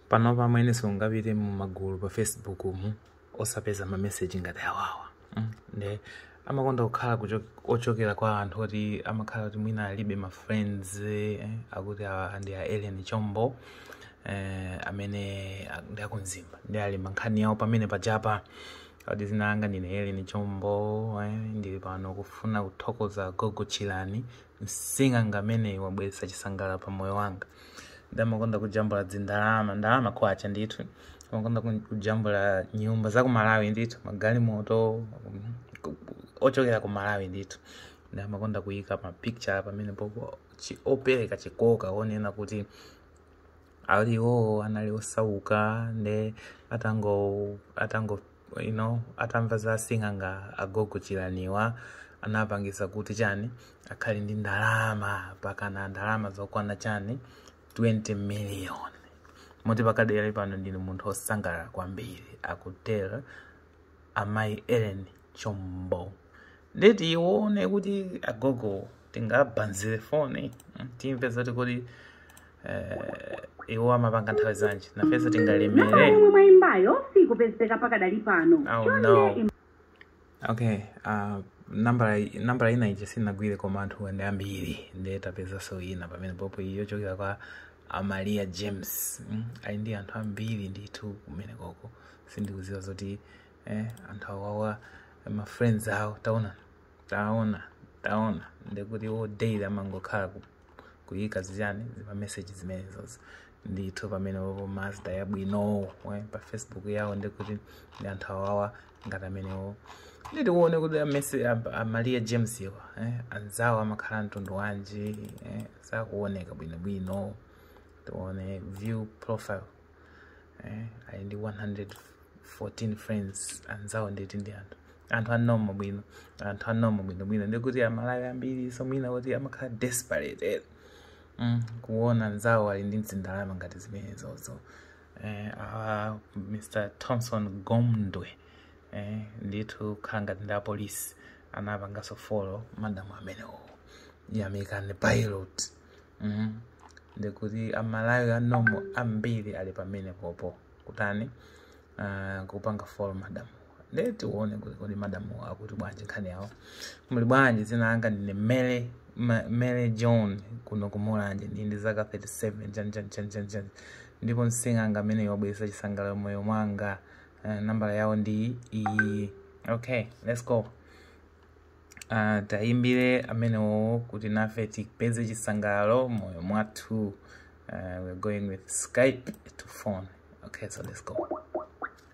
panopa amwene siungapite mu magulu pa facebook mm osapeza mameseji ngati awawa mm. nde amakonda kukhala kucho- ochokera kwa anthu oti amakhala kuti mwina alibe ma friends eh, akuti awa ndi a Ellen Chombo eh, amene a- ndi a ku Mzimba nde ali mu nkhani yawo pamene pajapa akuti zina anga ndine Ellen Chombo eh, ndili pano kufuna kuthokoza gogo Chilani Msing'anga ameneyu wabweretsa chisangalalo pa moyo wanga. Nde amakonda kujambula dzindalama, ndalama kwacha ndithu. Amakonda kujambula nyumba za ku Malawi ndithu, magalimoto ochokera ku Malawi ndithu. Nde amakonda kuyika ma picture pamene popo opereka chikoka onena kuti ali iwowo anali osauka nde atango atango you know atamva za sing'anga agogo chilaniwa anapangisa kuti chani akhale ndi ndalama pakana ndalama zokwana chani 20 million moti pakadali pano ndine munthu osangalala kwambiri akutero amayi ellen chombo nde tione kuti agogo tingawabayire foni mm, timve zoti kuti eh, iwo amapanga nthawi zanji nafenso tingalemere Nambala yomwe mwayimbayo sikupezeka pakadali pano. Oh, Chonde no. im- okay uh, nambala nambala ina ija sinagwire koma anthu ndi ambiri ndiye tapezanso ina pamene popo yochokera kwa a maria james mm? ali ndi anthu ambiri ndithu kumene koko sindikuziwa zoti eh, anthu awawa ma friends awo taona taona taona ndikuti iwo daily amangokhala ku- kuyika zichani zima message zimenezozo ndithu pamene popo mazda yabwinowo eh, pa facebook yawo ndikuti ndi anthu awawa ngati amenewo nde tikuone kuti amese a- a maria james awa eh, anzawo amakhala mtundu wanji eh, sakuoneka bwinobwino tione view profile eh, ali ndi 114 friends anzawo ndikuti ndi anthu anthu anoma bwino anthu anoma bwinobwino ndikuti amalawi ambiri so mwina kuti amakhala desperate eh. mm, kuona anzawo ali ndi mzindalama ngati zimenezozo eh, awa mr thomson gomdwe eh, ndithu kukhala ngati ndi apolisi anapanganso follow madamu amenewo yamikani pilot mm. ndikuti amalawi anoma ambiri ali pamene popo kutani uh, kupanga follow madamu Nde tione kuti kodi madamu akuti bwanji nkhani yawo. Muli bwanji dzina langa ndine Mary Ma- Mary John kuno ku Mulanje ndi ndi zaka 37 chan chan chan chan chan. Ndipo msing'anga amene wabweretsa chisangalalo m'moyo mwanga. Uh, nambala yawo ndi iyi. Okay, let's go. Uh, tayimbire amenewo kuti nafe tipeze chisangalalo m'moyo mwathu. Uh, we're going with Skype to phone. Okay, so let's go.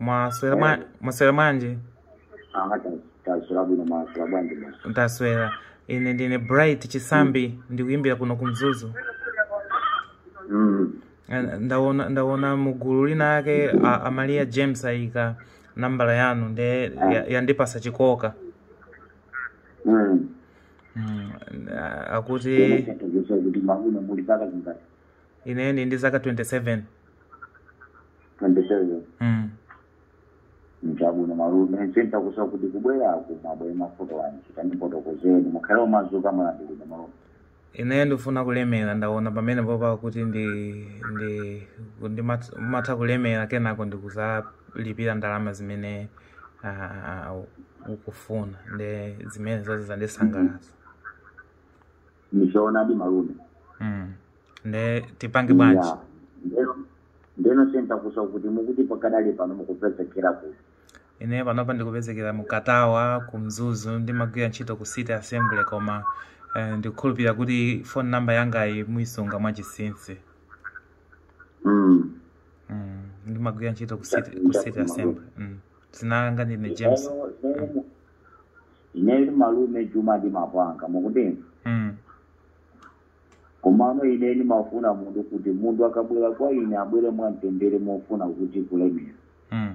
mwaswera mwa- mwaswera bwanji Ah, ta- taswera bwino mwaswera bwanji bwana. ndaswera ine ndine bright chisambi ndikuyimbira kuno ku mzuzu Mm. Eh, ndaona ndaona mugulu lina lake a- amalia james ayika nambala yanu nde ya- yandipasa chikoka Mm. mm, a- akuti Tatagesa kuti malume muli zaka zingati. ine ndi ndi zaka 27 27 mm. chabwino malume zitanthauza kuti kubwerako mwabwera mavuto anji tandifotokozeni mukhale omasuka mwalandiridwa malume ine ndifuna kulemera ndaona pamenepopa kuti ndi ndi ndi mat- matha kulemera kenako ndikuzalipira ndalama zimene ah, ukufuna nde zimene zonse zandisangalatsa ndichoonadi malume Mm. Nde tipange bwanji? Yeah. Ndeno- ndeno zitanthauza kuti mukuti pakadali pano mukupezekera kuti Ine panopa ndikupezekera mu Katawa, ku Mzuzu, ndimagwira ntchito ku City Assembly koma eh, ndikukhulupirira kuti phone number yangayi muyisunga mwachinsinsi. Mm. Mm. Ndimagwira ntchito ku City, ku City Assembly. Mm. Dzina langa ndine James. Lero- lero mu- ineyo ndi malume Juma ndimapanga mukundimva Mm. komano ine ndimafuna munthu kuti munthu akabwera kwa ine abwere mwamtendere mofuna kuti kulemera Mm.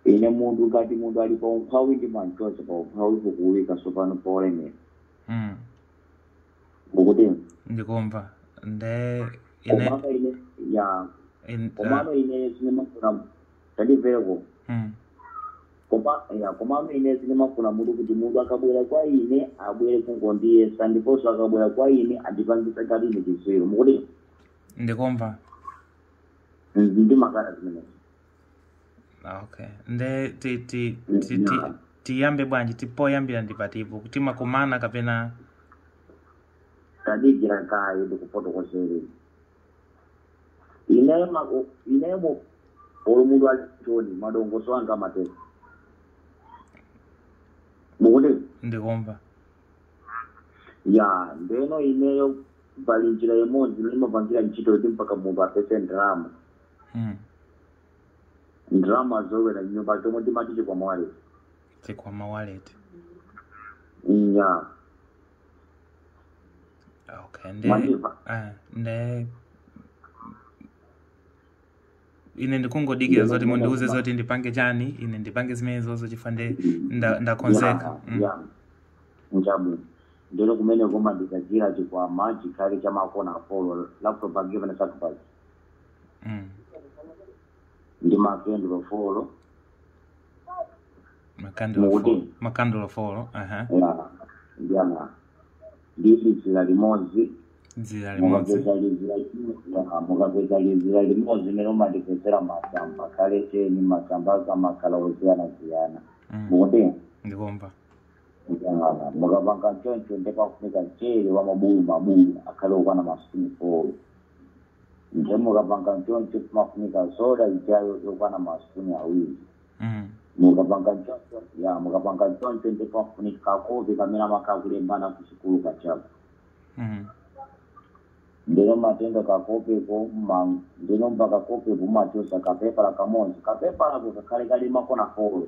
ine munthu ngati munthu ali pa umphawi ndimamchotsa pa umphawi kukuwika tsopano polemera Mm. mukundimva ndikumva nde ine komano ine ya in- komano ine sindimafuna tandimvera koma Mm. koma ya komano ine sindimafuna munthu kuti munthu akabwera kwa ine abwere kungondiyesa ndiponso akabwera kwa ine andipangisa ngati ine chitsiru mukuti ndikumva ndimakana zimenezi okay nde ti- ti- ti- ti- Yeah. tiyambe bwanji ti poyambira ndi patipo timakumana kapena tadikira kaye ndikufotokozere ineyo ma- u- ineyo mu- olo munthu alichoni madongoso anga amatero mukuti ndikumva ya ndeno ineyo pali njira imodzi imene imapangira ntchito kuti mpaka munthu apeze ndalama Mm. ndalama zolowera mnyumba chomwe timati chikwama wallet chikwama wallet ya okay nde nde ine ndikungodikira zoti mundiuze zoti ndipange chani ine ndipange zimenezozo chifukwa nde nda- ndakonzeka Yeah, Mm. yeah. Njabu. Ndilo kumene koma ndikazira chikwama chikhale cha makona folo la propaganda na sacrifice. Mm. Ndi makandulo folo makandulo Mukuti? folo makandulo folo aha ya ndi amuna nditi dzira limodzi dzira limodzi mukapeza lizira ya, mukapeza dzira limodzi ndiye mumatipezera masamba akhale teni masambazo amakhala osiyanasiyana Mm, mukuti ndikumva mukapanga choncho nde pafunika mchere wa mabulu mabulu akhale okwana masipuni folo nde mukapanga nchoncho pamafunika soda ijayo yokwana masipuni awiri Mm. mukapanga nchoncho ya mukapanga nchoncho nde pafunika kakope kamene amakhala akulembana kusukulu kajako Mm. ndeno mumatenga kakopeko ma- ndeno pakakopeko mumachosa kapepala kamodzi kapepalako kakhale kali makona folo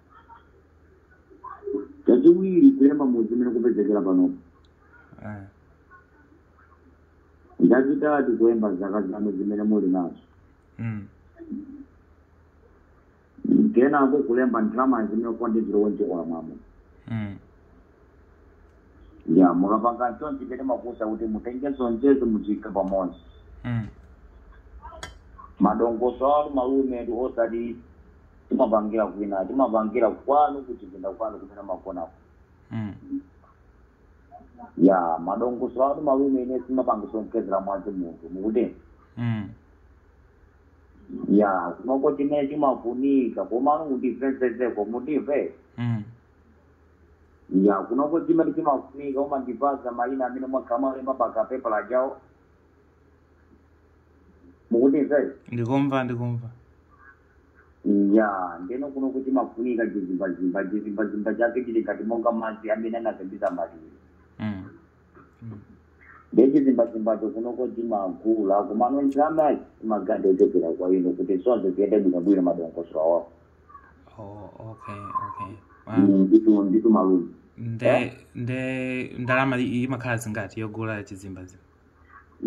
chachiwiri kulemba mudzi umene mukupezekera panopo eh, chachitatu kulemba zaka zanu zimene muli nazo mm, kenako kulemba ndalama zimene kukwandizira wenje olamamo mm, ya mukapanga nchonchi patimakuuzani kuti mutenge zonsezo muziike pamodzi Mm. madongoso anu malumetu osati timapangira kwina timapangira kwanu kuchipinda kwanu kumene mumagonako Mm. ya madongoso anu malume ine sindimapangiso nkhetsera mwazi munthu mukuti Mm. ya kunoko chimene chimafunika komano mundimvetsetseko mundimve Mm. ya kunoko chimene chimafunika mumandipasa mayina amene mwakhala mutalemba pa kapepala ajawo mukutimvera ndikumva ndikumva ya ndeno kunoko chimafunika chizimbazimba chizimbazimba chake chili ngati monga madzi amene anasambisa maliro mm. nde chizimbazimbacho kunoko timagula komano ndalama imakhala yochokera kwa inu kuti zonse ziyende bwinobwino madongosolo awawo oh, okay okay Ah, ndithu ndithu malume nde nde ndalama i- imakhala zingati yogula chizimbazi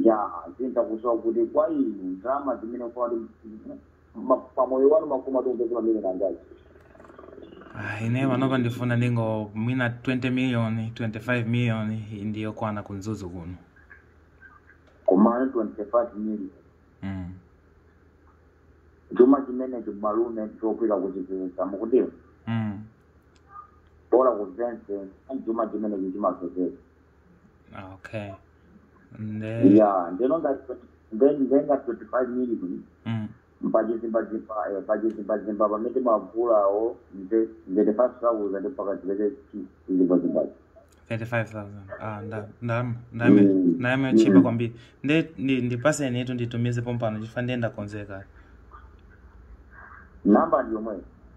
ya zimtakusowa kuti kwa inu ndalama zimene kwati ma- pamoyo wanu makuma tunzi kuti amene nangazi Ah, ine panopa ndifuna ndingo mwina 20 million 25 million ndi yokwana ku Mzuzu kuno komano 25 million mm. chuma chimene chi malume chopita kuchipeza mukutiwa mm. bola kuzonse chuma chimene chi chimapezeka okay nde ya ndinatenga twenty five million mm. pachizimbazimba eh, pachizimbazimba pamene mwabvula apo nde thirty five thousand mpaka chipezeke chizimbazimbachi 35000 ah nda nda ndamwe Mm. nde mwatchipa Mm. kwambiri nde ndi ndipatseni tu nditumize pompano chifukwa ndiye ndakonzeka namba ndi yomweyo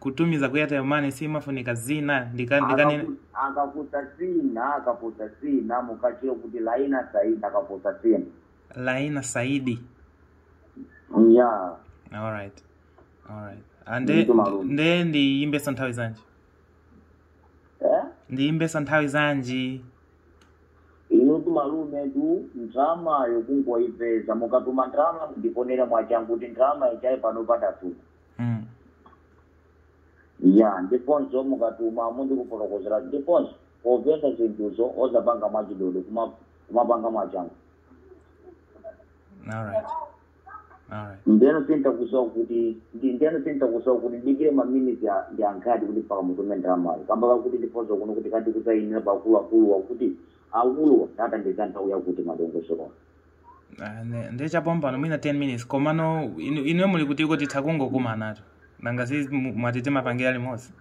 kutumiza ku airtel money simafunika dzina ndika- ndikanena Akaku- akafunsa dzina akafunsa dzina mukatchule kuti laina saidi akafunsa dzina laina saidi ya alright alright nde Ndithu malume. nde ndiyimbesa nthawi zanji eh? ndiyimbesa nthawi zanji inutu malumetu ndrama yo kungoipeza mukatuma ndrama ndikonere mwachangu kuti ndrama yochokera pano patatu Mm. ya ndifunse mukatuma mundifotokozere ndifunse ofesi zinthuzo osapanga mwachidodo kuma- kumapanga mwachangu All right. All right. ndeno chimtakusowa kuti ndi- ndeno chimtakusowa kuti ndidikire maminisi a- ndi angati kuti mpaka mutume ndalamayo kamba kakuti ndifunse kuno kuti kati kusainira akuluakuluwa kuti akuluwa titatenga nthawi yakuti madongosolo Ah, ne- ndiye chapompano mwina 10 minutes komano inu- inuyo muli kuti kuti tikangokumanatu nanga si mu- mwati tipangire limodzi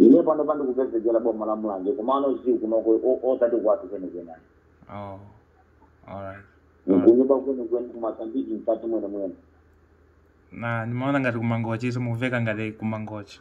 ine panopa ndikupezekera boma la mulanje komano si kunoko o- osati kwathu kwenikweni oh alright kunyumba kwenikweni ku Mozambique mkati mwene mwene na ndimaona ngati kumangochi so mukumveka ngati kumangochi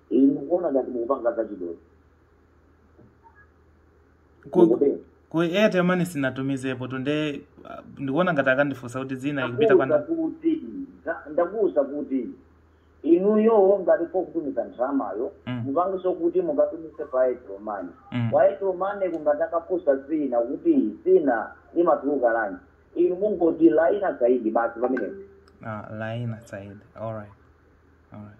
Inu ndikuona ngati mukupanga zachidodo. ku, Mukutero. ku airtel money sinatumizepo tu nde ah, ndikuona ngati akandifunsa kuti dzina ikupita kwa Ndakuuza ndani kuti za- ndakuuza kuti inuyo ngati mufuna kutumiza ndramayo Mm. mukangopita kuti mukatumize kwa airtel money Mm. kwa airtel money kungoti akafunsa dzina kuti dzina limatuluka lanji inu mungoti laina saidi basi pamenepo ah, laina saidi alright alright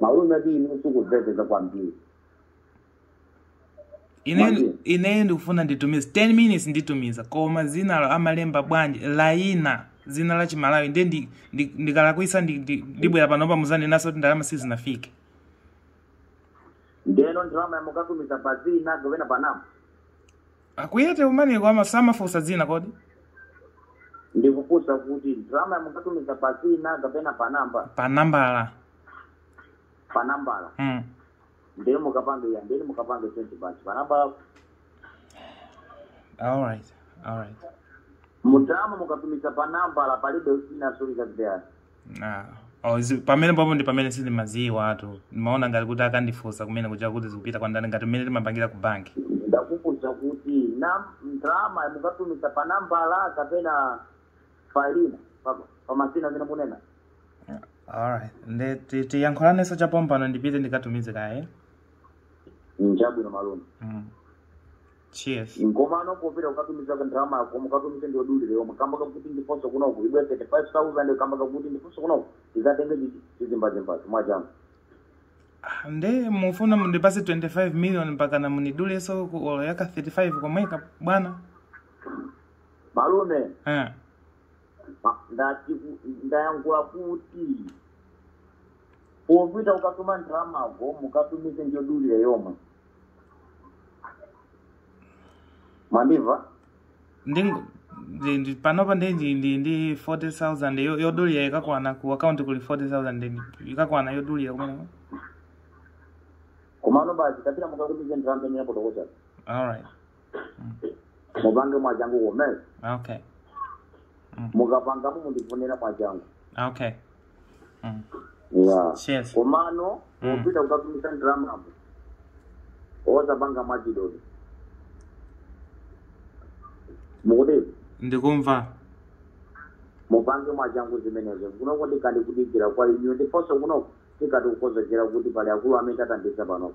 malume ati inu sindikumvetsetsa kwambiri ine Mwambie. ine ndikufuna nditumize 10 minutes nditumiza koma zinalo amalemba bwanji laina zina la chimalawi nde ndi- ndi- ndikalakwisa ndi- ndi- ndibwera panopa muzanenanso kuti ndalama sizinafike ndeno ndalamayo mukatumiza pa zina kapena pa namba a ku Airtel Money-ko samafunsa dzina kodi ndikufunsa kuti ndalama mukatumiza pa zina kapena pa namba pa nambala pa nambala mm. ndendi mukapange ya ndendi mukapange twenty basi pa nambala alright alright ndalama mukatumiza pa nambala palibe zina zolika zideyani Ah, oh, zi- pamene pompo ndi pamene sindimaziwa aah tu ndimaona ngati kuti akandifunsa kumene kuja kuti zikupita kwa ndani ngati mmene timapangira ku banki ndakufunsa kuti na ndalama mukatumiza pa nambala kapena pa zina pa- pa mazina amene munena alright nde ti- tiyankhulanenso chapompano ndipite ndikatumize kaye chabwino malume mm. Cheers. Komano popita kukatumiza ndalamako mukatumize ndi yodulira yomwe kamba kakuti ndiponso kunoko ibwere 35000 kamba kakuti ndiponso kunoko tizatenge zi- zizimbazimbazi mwachangu Ah, nde mufuna mundipase 25 million mpaka na mundidulenso ku olo ya ka 35 komweka bwana malume eh. ma- ndati ku- ndayankhula kuti popita kukatuma ndalamako mukatumize ndi yodulira yomwe mwandimva ndi ndi- ndi- panopa ndi ndi ndi ndi 40000 yo- yodulira ikakwana ku akaunti kuli 40000 ndi- ikakwana yodulira kumene komano basi kapita mukakuti zinthu amene apotokocha alright mupange mwachangu kumeneko okay mukapangamo mundifonera mwachangu okay mm. yeah. Cheers. komano Mm. popita kukatumiza ndalamapo osapanga mwachidodo mukuti ndikumva mupange mwachangu zimenezo kunoko ndikadikudikirani inuyo ndiponso kunoko tikadi kukonzekera kuti pali akulu amene tawathandiza panopo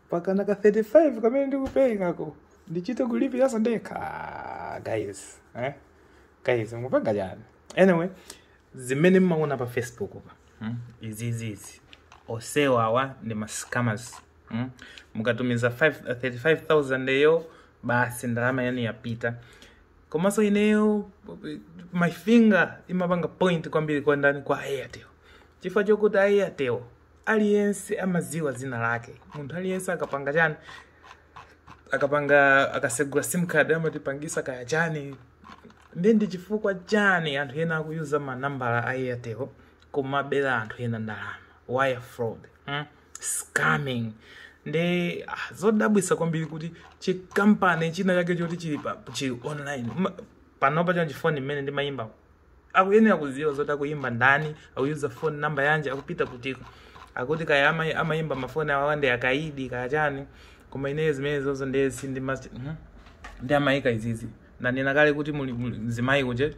pakana ka 35 kamene ndikuperekako ndichite kulipiranso ndekha Ah, guys eh? guys mupanga chani anyway zimene mmaona pa facebook pa hmm? izizizi onsewa awa ndi mascammers hmm? mukatumiza 5 35000 eyo basi ndalama yanu yapita komanso ineyo my finger imapanga point kwambiri kwa ndani kwa airtel chifukwa chokuti airtel aliyense amadziwa dzina lake munthu aliyense akapanga chani akapanga akasegula sim card amatipangisa kaya chani nde ndi chifukwa chani anthu ena akuyuza manambala a airtel kumabera anthu ena ndalama wire fraud mm? scamming nde ah, zodabwisa kwambiri kuti chikampani china chake choti chili pa chili online Ma- panopa chanji foni imene ndimayimba akuyenera kuziwa zoti akuyimba ndani akuyuza phone namba yanji akupita kutiko akuti kaya ama- amayimba mafoni awawa ndi akaidi kaya chani koma ineyo zimene zozo ndiye sindimati mhm. ndi amayika izizi ndanena kale kuti muli muli mzimayi uje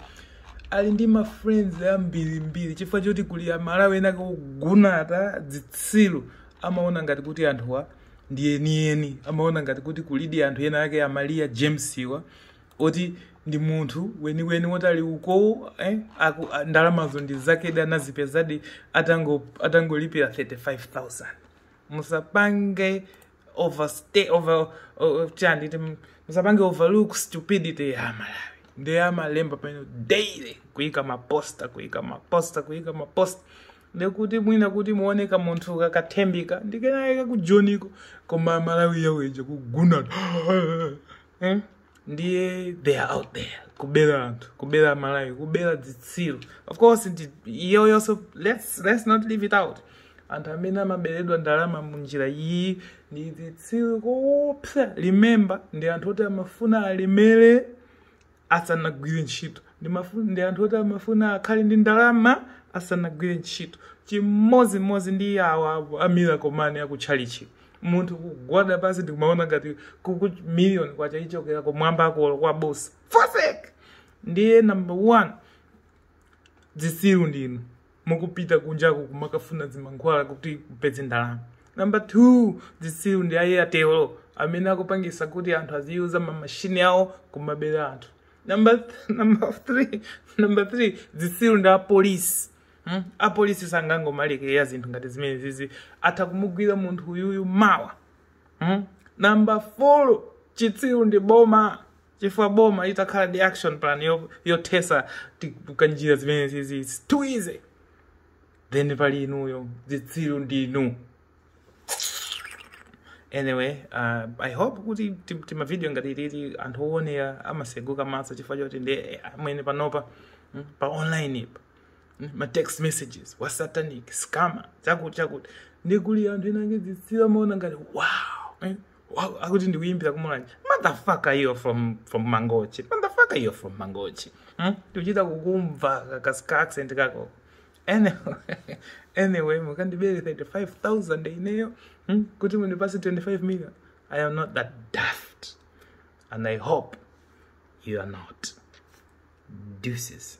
ali ndi ma friends ambirimbiri chifukwa choti kuli amalawi enaake ogunata dzitsiru amaona ngati kuti anthuwa ndi enieni amaona ngati kuti kulidi anthu ena ake a maliya james wa oti ndi munthu weniweni woti ali ukowo eh, aku- a- ndalamazo ndi zakedi anazipezadi atango- atangolipira 35000 musapange overstay over uh, chani tim- musapange overlook stupidity ya amalawi nde amalemba pano daily kuika maposta kuika maposta kuika maposta ndekuti mwina kuti muone kamunthu kakathembika ndi ena akakujoniko koma amalawi awaja kugunata hmm? ndiye they are out there kubera anthu kubera amalawi kubera dzitsiru of course ndi- iyo yonso let's, let's not leave it out anthu amene amaberedwa ndalama munjira iyi ndi dzitsiru koopsa remember ndi anthu oti amafuna alemere asanagwire ntchito ndi mafu- ndi anthu oti amafuna akhale ndi ndalama asanagwire ntchito chimodzimodzi ndi awa a miracle money akutchalitchi munthu kugwada pansi ndikumaona ngati kuti miliyoni kwacha ichokera kumwamba akolo kwa bosi foseki ndiye number one zitsiru ndinu mukupita kunjaku kumakafuna zimankhwala kuti mupeze ndalama namba 2 zitsiru ndi a airtel amene akupangisa kuti anthu aziyuza mamashini awo kumabera anthu namba th- namba 3 namba 3 zitsiru ndi apolisi Hmm? apolisi sangangomalekera zinthu ngati zimene zizi atha kumugwira munthu uyuyu mawa hmm? namba 4 chitsiru ndi boma chifukwa boma itakhala ndi action plan yo- yothetsa ti- kanjira zimene zizi it's too easy then pali inuyo zitsiru ndinu anyway uh, i hope kuti ti- timavidiyo ngati titi anthu owonera amaseguka maso chifukwa choti nde eh, amwene panopa mm, pa online ipa mm, ma text messages wa satanic scammer chakuti chakuti nde kuli anthu enaake zitsiru amaona ngati wow eh, Wow akuti ndikuyimbira kumulanje motherfucker you're from from mangochi motherfucker you're from mangochi hmm? ndikuchita kukumva ka- ka- ka accent kako anyway, anyway mukandibere 35000 ineyo hmm? kuti mundipase 25 million i am not that daft and i hope you are not deuces